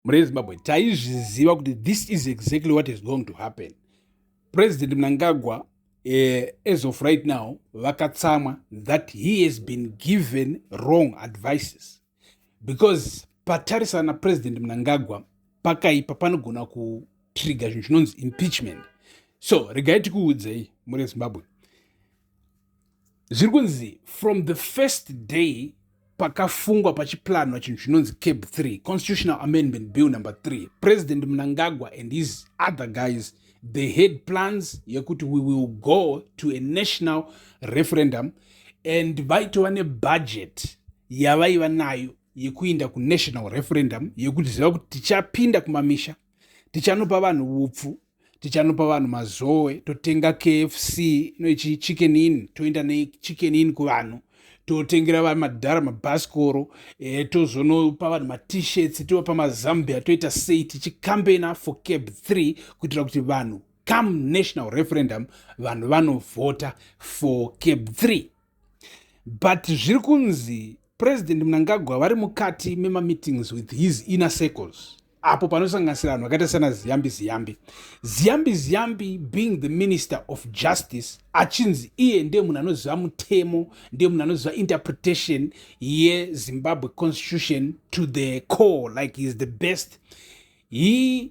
mune zimbabwe taizviziva kuti this is exactly what is going to happen president mnangagwa eh, as of right now vakatsamwa that he has been given wrong advices because patarisana napresident mnangagwa pakaipa panogona kutriga zvinhu zvinonzi impeachment so regai tikuudzei mune zimbabwe zviri kunzi from the first day pakafungwa pachiplanwa chinhu chinonzi cab 3 constitutional amendment bill number 3 president mnangagwa and his other guys they had plans yekuti we will go to a national referendum and vaitova nebudget yavaiva nayo yekuinda kunational referendum yekuti ziva kuti tichapinda kumamisha tichanopa vanhu upfu tichanopa vanhu mazowe totenga kfc noichi chicken in toenda nechicken in kuvanhu totengera va madhara mabhasikoro e, tozonopa vanhu matishirts tovapa mazambia toita sei tichikambena for cab 3 kuitira kuti vanhu come national referendum vanhu vanovhota for cab 3 but zviri kunzi president mnangagwa vari mukati memameetings with his inner circles apo panosanganisira vanhu vakaita sana ziyambi ziyambi ziyambi ziyambi being the minister of justice achinzi iye ndiye munhu anoziva mutemo ndiye munhu anoziva interpretation yezimbabwe constitution to the core like heis the best he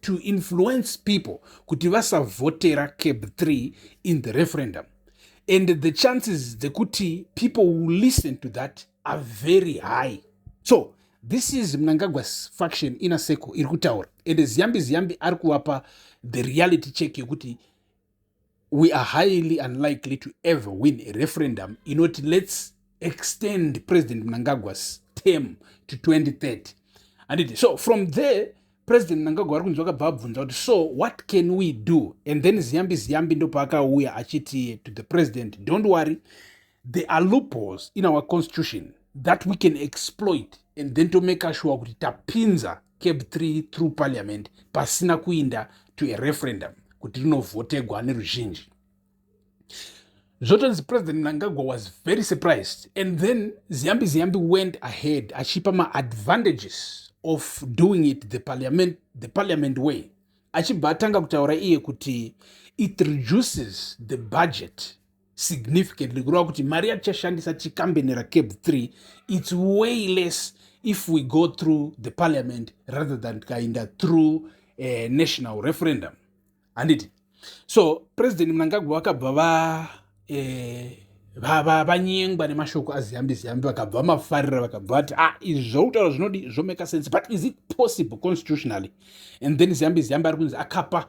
to influence people kuti vasavhotera cab 3 in the referendum and the chances dzekuti people will listen to that are very high so this is mnangagwas faction ina circle iri kutaura and ziyambi ziyambi ari kuvapa the reality check yekuti we are highly unlikely to ever win a referendum inoti let's extend president mnangagwa's term to 2030 handiti so from there president mnangagwa ari kunzwa kabva abvunza kuti so what can we do and then ziyambi ziyambi ndopaakauya achiti to the president don't worry There are loopholes in our constitution that we can exploit and then to make sure kuti tapinza cab 3 through parliament pasina kuinda to a referendum kuti rinovhotegwa neruzhinji zvotonzi president mnangagwa was very surprised and then ziyambi ziyambi went ahead achipa maadvantages of doing it the parliament, the parliament way achibva atanga kutaura iye kuti it reduces the budget significantly kureva kuti mari yatichashandisa tichikambeni racab 3 its way less if we go through the parliament rather than tikaenda through uh, national referendum handiti so president mnangagwa vakabva va eh, vanyengwa nemashoko aziyambi ziyambi vakabva vamafarira vakabva vati ah izvi zvautaura zvinodi zvomeka sense but is it possible constitutionally and then ziyambi ziyambi ari kunzi akapa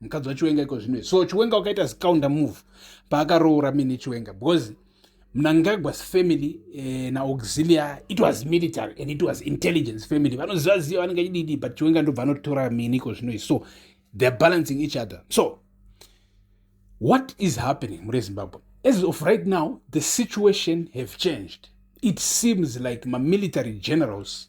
mukadzi wachiwenga iko zvino so chiwenga wakaita zikaunda move paakaroora mine chiwenga because mnangagwas family eh, naauxilia it was military and it was intelligence family vanoziva ziva vanenge achididi but chiwenga ndobva anotora mine iko zvino so theyare balancing each other so what is happening mure zimbabwe as of right now the situation have changed it seems like mamilitary generals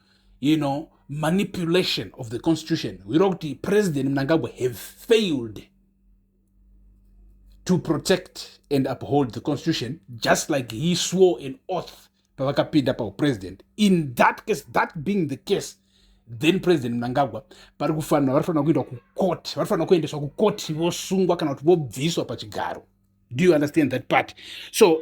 you know manipulation of the constitution hwiro kuti president mnangagwa have failed to protect and uphold the constitution just like he swore an oath pavakapinda paupresident in that case that being the case then president mnangagwa vari kufanira vari fanira kuendwa kucourt vari fanira kuendeswa kucourt vosungwa kana kuti vobviswa pachigaro do you understand that part so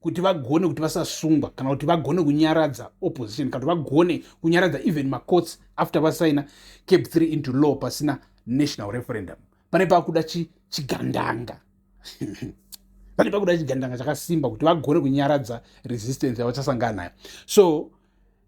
kuti vagone kuti vasasungwa kana kuti vagone kunyaradza opposition kana kuti vagone kunyaradza even macourts after vasaina cap 3 into law pasina national referendum pane pakuda chigandanga pane pakuda chigandanga chakasimba kuti vagone kunyaradza resistance yavachasangana nayo so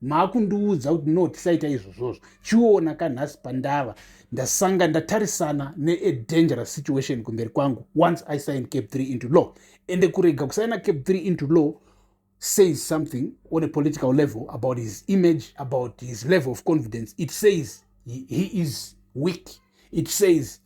maakundiudza kuti no tisaita izvozvozvo chiona kanhasi pandava ndasanga ndatarisana neadangerous situation kumberi kwangu once i sign cap 3 into law ende kurega kusaina cap 3 into law says something on a political level about his image about his level of confidence it says he, he is weak it says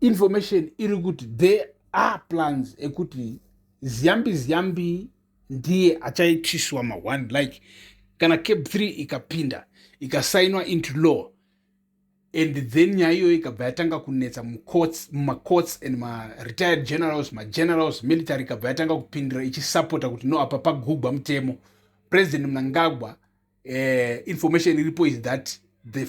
information iri kuti there are plans ekuti ziyambi ziyambi ndiye achaitiswa ma-one like kana cap 3 ikapinda ikasainwa into law and then nyaya iyoyo ikabva yatanga kunetsa mumacourts and maretired generals magenerals military ikabva yatanga kupindira ichisapota kuti no apa pagugwa mutemo president mnangagwa eh, information iripo is that the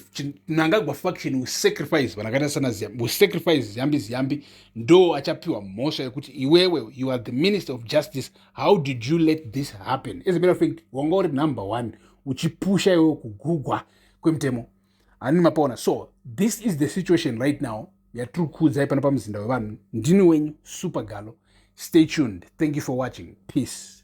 mnangagwa faction will sacrifice vanhu akaita sana ziyambi will sacrifice ziyambi ziyambi ndo achapiwa mhosva yekuti iwewe you are the minister of justice how did you let this happen as a matter of fact wanga uri number one uchipusha iwewe kugugwa kwemutemo hanini mapaona so this is the situation right now yatiri kuudzai pano pamuzinda wevanhu ndini wenyu super galo stay tuned thank you for watching peace